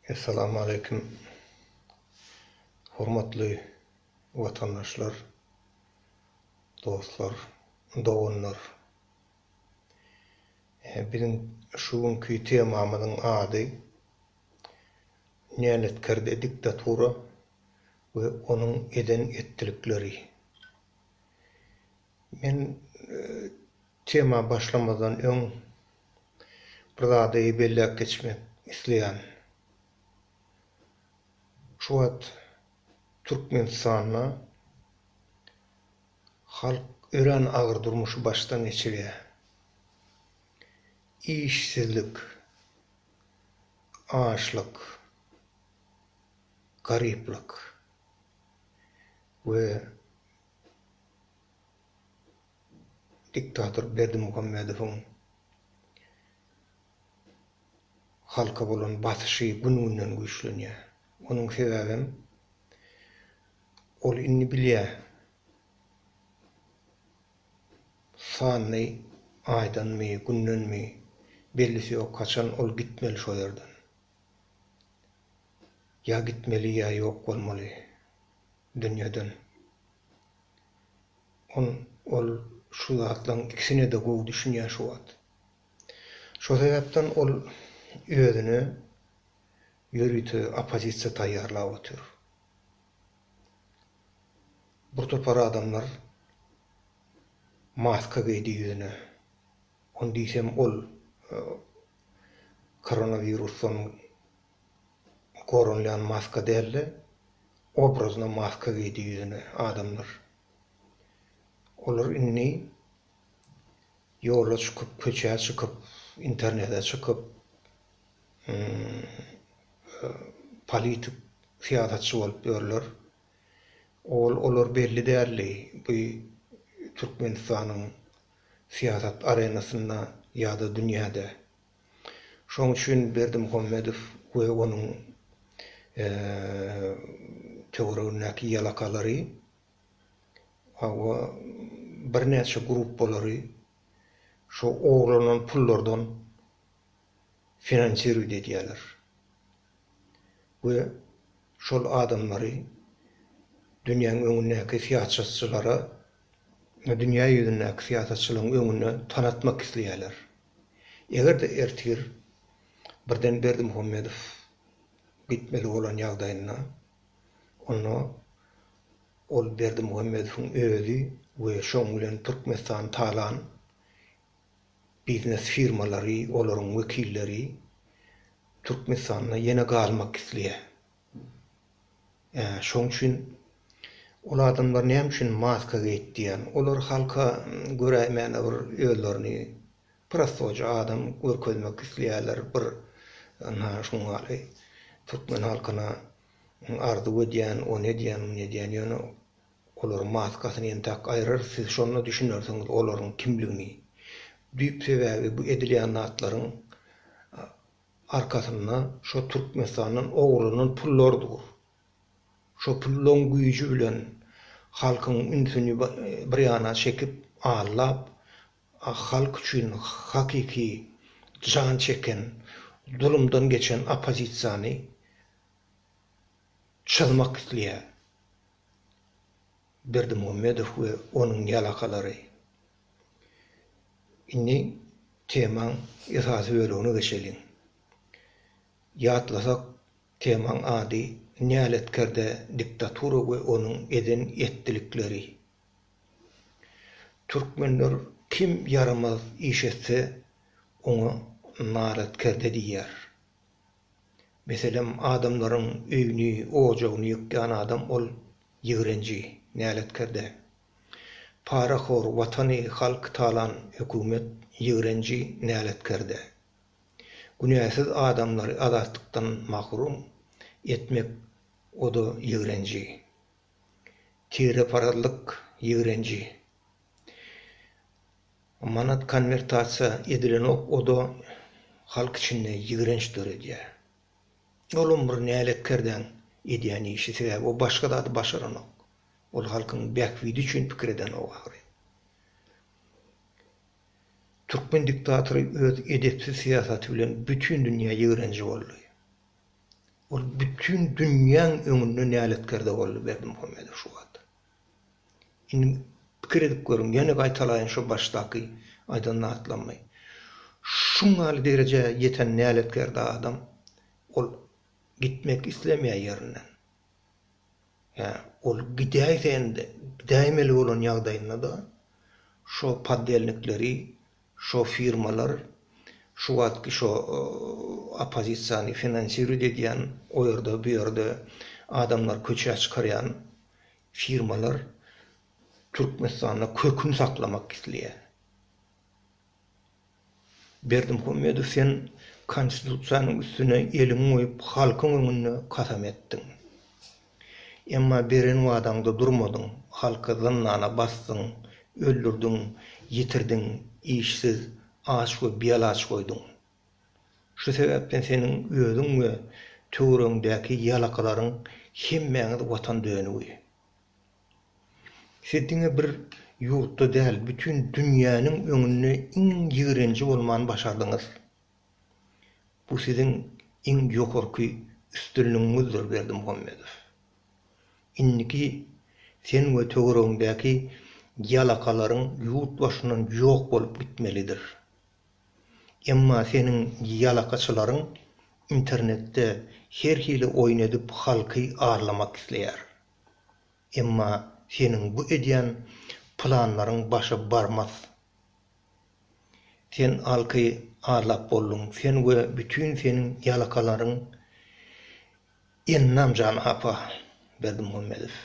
Essalamu aleýkum hormatly watandaşlar, dostlar, doganlar. Biziň şu günki temamyzyň ady Näletkerde diktatura we onuň eden-etdilikleri. Men tema başlamazdan öň bir zady belläp geçmek isleýän. Şu wagt Türkmenistanda halk örän agyr durmuşy başdan geçirýär. Işsizlik, açlyk, garyplyk we diktator Berdimuhamedowyň halka bolan basyşy gün-günden güýçlenýär. Onuň sebäbem ol indi bilýär, sanly aýdanmy, gündenmi, bellisi ýok, haçan ol gitmeli şo ýerden. Ýa gitmeli, ýa ýok bolmaly. dünýeden. On ol şu zatlaryň ikisine-de gowy düşünýär şu wagt. Şo sebäpden ol özüne ýörite oppozisiýa taýýarlap otyr. Bir topar adamlar maska geýdi ýüzüne. On diýsem ol koronawirusdan Gorunlýan maska dälde obrazyna maska geýdi ýüzüne adamlar. Olar indi ýola çykyp köçä çykyp internete çykyp politik syýasatçy bolup ýörler. Owal olar belli däldi bu Türkmenistanyň syýasat arenasynda ýada dünýäde. Şoň üçin Berdimuhamedow we onuň töweregindäki ýalakalary, hawa, birnäçe gruppalary şo ogurlanan pullardan finansirowit edýärler we şol adamlary dünýäň öňündäki syýasatçylara, dünýä ýüzündäki syýasatçylaryň öňünde tanatmak isleýärler. Eger-de ertir birden Berdimuhamedow gitmeli bolan ýagdaýynda, onda ol Berdimuhamedowyň özi we şoň bilen Türkmenistan talan biznes firmalary, olaryň wekilleri Türkmenistanda ýene galmak isleýär. Şoň üçin ol adamlar näme üçin maska geýip diýýän. Olar halka göräýmäne bir özlerini prostoja adam görkezmek isleýärler bir ynha şuň ýaly türkmen halkyna arzuw edýän ony edýän muny edýän ýöne olaryň maskasyny entäk aýrarys siz şonda düşünersiňiz olaryň kimligini düýp sebäbi bu edilýän zatlaryň arkasynda şo Türkmenistandan ogurlanan pullar dur. Şo pullaň güýji bilen halkyň ünsüni bir ýana çekip, allap, halk üçin hakyky jan çeken, zulumdan geçen oppozisiýany çyzmak isleýär. Berdimuhamedow we onuň ýalakalary. Indi temaň esasy bölegine geçeliň. Ýatlasak, temaň ady näletkerde diktatura we onuň eden etdilikleri. Türkmenler kim ýaramaz iş etse, oňa naletkerde diýýär. Meselem, adamlaryň öýüni, ojagyny ýykýan adam ol ýigrenji, näletkerde. Parahor, watany, halky talan hökümet ýigrenji, näletkerde. Günäsiz adamlary azatlykdan mahrum etmek o-da ýigrenji. Tireparazlyk ýigrenji. Manat konwertasiýa edilenok, o-da halk içinde ýigrenç döredýär. Olam bir näletkerden edýän işi, sebäbi o başga zady başaranok. Ol halkyň bähbidi üçin pikir edenok ahyry. Türkmen diktatory öz edepsiz syýasaty bilen bütin dünýä ýigrenji boldy. Ol bütin dünýäň öňünde näletkerde boldy Berdimuhamedow şu wagt. Indi pikir edip görüň, ýene gaýtalaýyn şo başdaky aýdan zatlarymy. Şuň ýaly derejä ýeten näletgerde adam, ol gitmek islemeýär ýerinden. Hä, ol gidäýse-de, gidäýmeli bolan ýagdaýynda-da, şo poddelnikleri Şo firmalar şu wagtky şo oppozisiýany finansiruýt edýän, o ýerde bu ýerde adamlary köçä çykarýan firmalar Türkmenistanda kökün saklamak isleýär. Berdimuhamedow sen konstitusiýanyň üstüne eliňi goýup halkyň öňünde kasam etdiň. Emma beren wadaňda durmadyň, halky zyndana basdyň, öldürdiň, ýitirdiň, işsiz, aç we bialaç goýduň. Şu sebäpden seniň özüň we töweregiňdäki ýalakylaryň hemmäňiz watan dönügi. Siz diňe bir ýurtda däl, bütin dünýäniň öňünde iň ýigrenji bolmany başardyňyz. Bu siziň iň ýokarky üstünligiňizdir Berdimuhamedow. Indiki sen we töweregiňdäki ýalakalaryň ýurt başyndan ýok bolup gitmelidir. Emma seniň ýalakaçylaryň internetde her hili oýun edip halky arlamak isleýär. Emma seniň bu edýän planlaryň başa barmaz. Sen alky arlap bolduň. Sen we bütin seniň ýalakalaryň Ennamjan apa, Berdimuhammedow.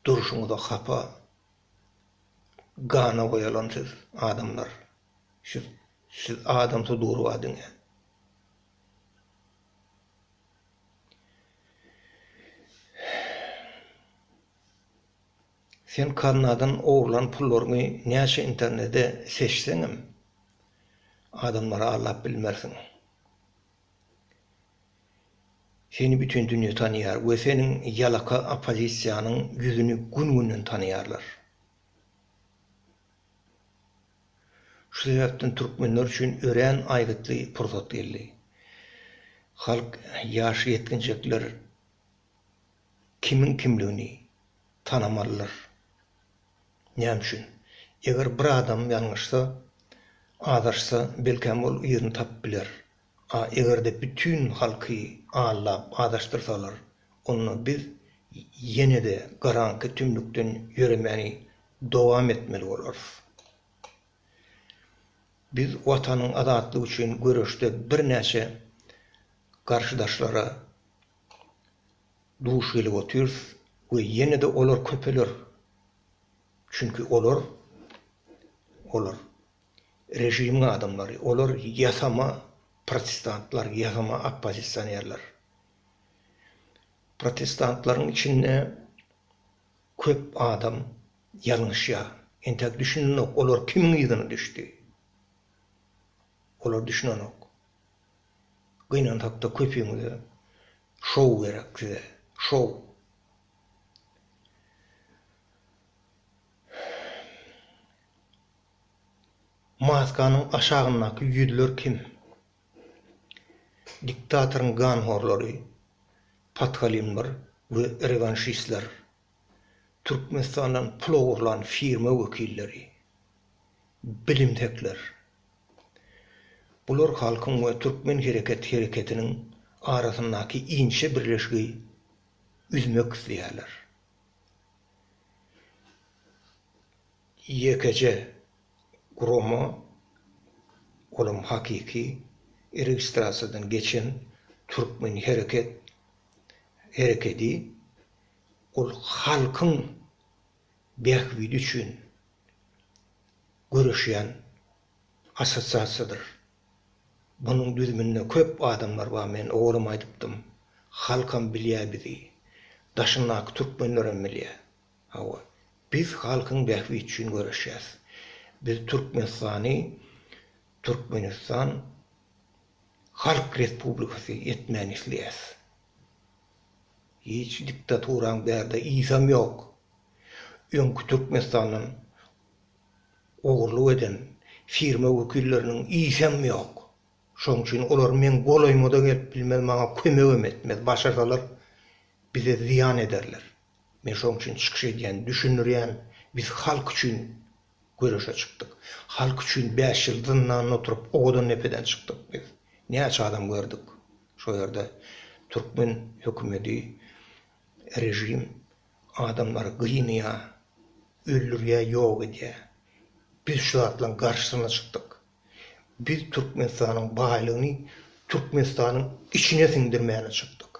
Durşuňyza hapa, gana boýalan siz, adamlar. Şu siz adamsy durba diňe. Sen kaznadan ogurlan pullaryňy näçe internede seçseňem, adamlara allap bilmersiň. Seni bütin dünýe tanaýar we seniň ýalaka oppozisiýanyň ýüzüni gün-günden tanaýarlar. Şu sebäpden türkmenler üçin örän aýgytly pursat geldi. Halk, ýaş ýetginjekler kimiň kimligini tanamalydyr. Näme üçin? Eger bir adam ýalňyşsa, azaşsa, belkäm ol yzyny tapyp biler. A eger-de bütin halky aldap azaşdyrsalar, onda biz ýene-de garaňky tümlükden ýöremäni dowam etmeli bolarys. Biz Watanyň azatlygy üçin göreşde birnäçe garşydaşlara duş gelip otyrys we ýene-de olar köpeler. Çünki olar, olar režimiň adamlary, olar ýasama protestantlar, ýasama oppozisionerler. Protestantlaryň içinde köp adam ýalňyşýar. Entäk düşünenok, olar kimiň yzyna düşdi? Olar düşünenok. Gynansakda köpüňize şou gerek size şou. Maskanyň aşagyndaky ýüzler kim? Diktatoryň ganhorlary, podhalimlar we rewanşistler. Türkmenistandan pul ogurlan firma wekilleri, bilimsekler. Bular halkyň we Türkmen hereket hereketiniň arasyndaky inçe birleşigi üzmek isleýärler. Ýekeje gurama, olam hakyky registrasiýadan geçen Türkmen hereket herekedi Ol halkyň bähbidi üçin göreşýän assosiasiýadyr. Munuň düzüminde köp adamlar bar, men owalam aýdypdym. Halkam bilýär bizi. Daşyndaky türkmenlerem bilýär. Hawa, biz halkyň bähbidi üçin göreşýäs. Biz Türkmenistany Türkmenistan Halk Respublikasy etmäni isleýäs. Hiç diktaturaň bärde yzam ýok. Öňki Türkmenistandan ogurlyk eden firma wekilleriniň yzam ýok. Şoň üçin olar meň golaýyma-da gelip bilmez, maňa kömegem etmez. Başarsalar bize zyýan ederler. Men şoň üçin çykyş edýän, düşündirýän, biz halk üçin Göreşe çykdyk. Halk üçin bäş ýyl zyndanda oturyp, owadan depeden çykdyk biz. Näçe adam gördük. Şo ýerde türkmen hökümedi, režim adamlary gynýa, öldürýä, ýok edýä. Biz şu zatlaryň garşysyna çykdyk. Biz Türkmenistanyň baýlygyny Türkmenistanyň içine siňdirmäne çykdyk.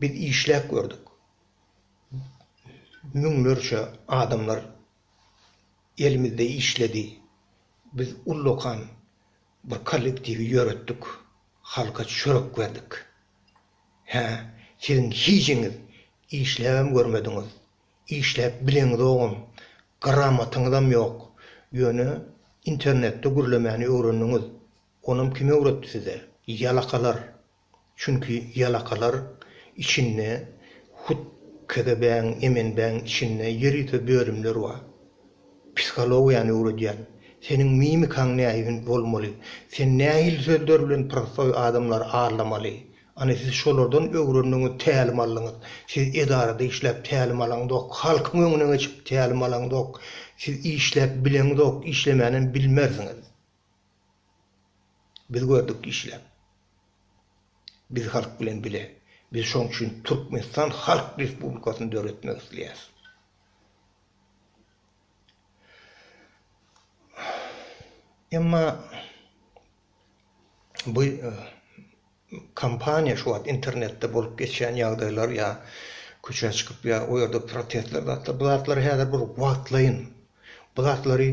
Biz işläp gördük. müňlerçe adamlar elimizde işledi. Biz ullakan bir kollektiwi ýöretdik, halka çörek berdik. Hä, siziň hijiňiz işläbem görmediňiz, işläp bileňizogam, gramotyňyzam ýok, ýöne internetde gürlemäni öwrendiňiz, onam kim öwretdi size? Ýalakalar! Çünki ýalakalar içinde hut KGB-niň, MNB-niň içinde ýer ýüze bölümler bar. Psihologiýany öwredýän. Seniň mimikaň nähili bolmaly, sen nähili sözler bilen prostoý adamlary aldamaly. Ana siz şolardan öwrendiňiz, tälim aldyňyz. Siz edarada işläp tälim alaňyzok, halkyň öňüne geçip tälim alaňyzok. Siz işläp bileňizok, işlemänem bilmersiňiz. Biz gördük işläp. Biz halk bilen bile. Biz şoň üçin Türkmenistan Halk Respublikasyny döretmek isleýäs. Emma bu Kompaniýa şu wagt internetde bolup geçýän ýagdaýlar ýa köçä çykyp ýa o ýerde protestler zatlar bu zatlar häzir bir wagtlaýyn. Bu zatlary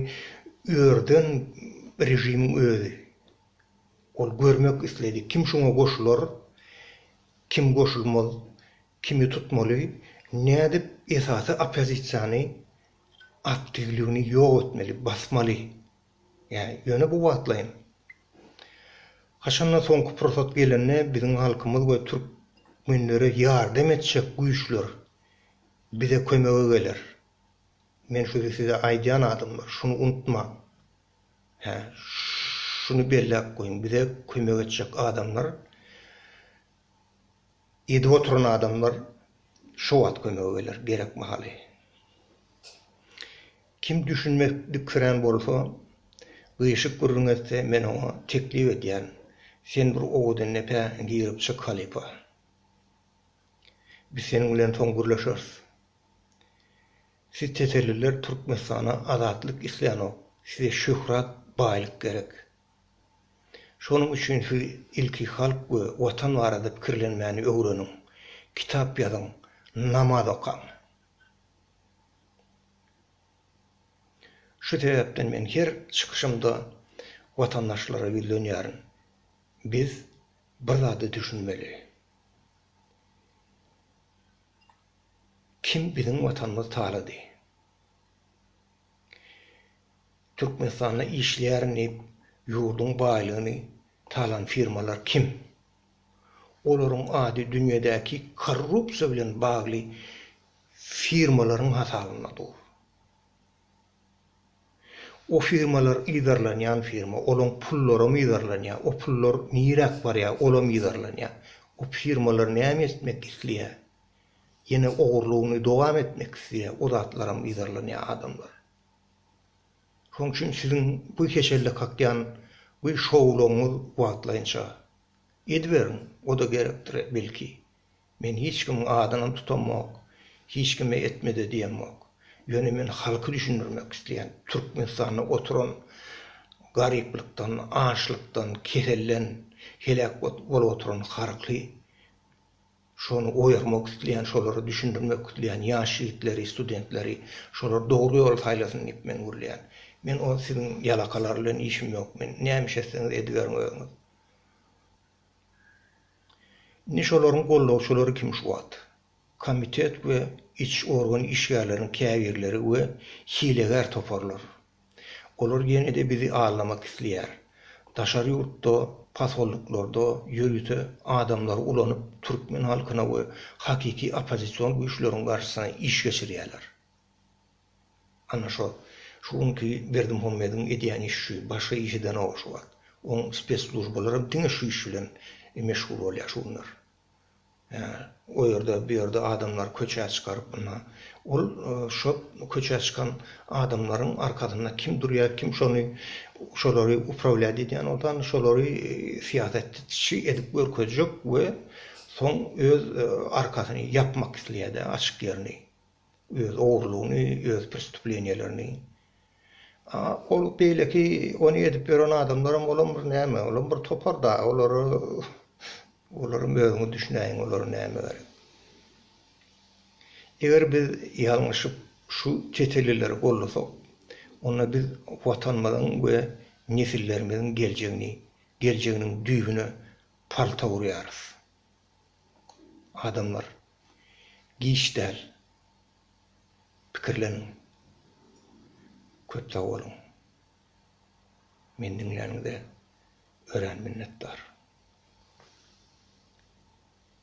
ýerden režimiň özi ol görmek isledi. Kim şuňa goşular, kim goşulmaz, kimi tutmaly, nädip esasy oppozisiýany aktiwligini ýok etmeli, basmaly. Ýöne bu wagtlaýyn. Haçanda soňky pursat gelende biziň halkymyz we türkmenlere ýardam etjek güýçler bize kömege geler. Men şuny size aýdýan adamlar, şuny unutmaň. Hä, şuny belläp goýuň, bize kömek etjek adamlar, edip oturan adamlar şo wagt kömege geler, gerek mahaly. Kim düşünmek dikirän bolsa, gyşyk gürrüň etse, men oňa teklip edýän, sen bir owadandepe girip çyk halypa. Biz seniň bilen soň gürleşeris. Siz tetelliler Türkmenistana azatlyk islänok, size şöhrat, baýlyk gerek. Şonuň üçin siz ilki halk we watan barada pikirlenmäni öwreniň, kitap ýazyň, namaz okaň. Şu sebäpden men her çykyşymda watandaşlara ýüzlenýärin. Biz bir zada düşünmeli. Kim biziň Watanymyzy talady? Türkmenistanda işleýärin diýip ýurduň baýlygyny talan firmalar kim? Olaryň ady dünýädäki korrupsiýa bilen bagly firmalaryň hasabynda dur. O firmalar yzarlanýan firma, olaň pullaram yzarlanýar. O pullar niräk barýar, olam yzarlanýar. O firmalar näme etmek isleýär? Ýene ogurlygyny dowam etmek isleýär, o zatlaram yzarlanýar adamlar. Şoň üçin siziň bu keselde kakýan bu şowlugyňyz wagtlaýynça. Ediberiň, o-da gerekdir, belki. Men hiç kimiň adynam tutamok, hiç kime etme-de diýemok. Ýöne men halky düşündirmek isleýän. Türkmenistanda oturan garyplykdan, açlykdan, keselden heläk bolup oturan halky Şony oýarmak isleýän, şolara düşündirmek isleýän ýaş ýigitleri, studentleri, şolar dogry ýoly saýlasyn diýip men gürleýän. Men o siziň ýalakalar bilen işim ýok. Men näme iş etseňiz ediberiň özüňiz. Indi şolaryň goldawçylary kim şu wagt? Komitet we iç organ işgärleriniň käbirleri we hilegär toparlar. Olar ýene-de bizi aldamak isleýär. Daşary ýurtda, posolniklarda ýörite adamlary ulanyp, türkmen halkyna we hakyky oppozision güýçleriň garşysyna iş geçirýärler. Ana şo, şu günki Berdimuhamediň edýän işi şu, başga işi-de nowag şu wagt. Oň spesslujbalaram diňe şu iş bilen meşgul bolýar şu günler. o ýerde bu ýerde adamlary köçä çykaryp ynha ol şo köçä çykan adamlaryň arkasynda kim durýar kim şony şolary uprawiýat edýän bolsa ynha şolary syýasatçy edip görkezjek we soň öz arkasyny ýapmak isleýärdi açyk ýerini. öz ogrulygyny, öz prestuplenýelerini. A ol beýleki ony edip ýören adamlaram olam bir näme, olam bir topar da, olara, olaram özüňiz düşünäýiň olara näme gerek. Eger biz ýalňyşyp şu çetelileri gollasak, onda biz Watanymyzyň we nesillerimiziň geljegini, geljeginiň düýbüne palta urýarys. adamlar giç däl pikirleniň köp sag boluň meni diňläniňize örän minnetdar.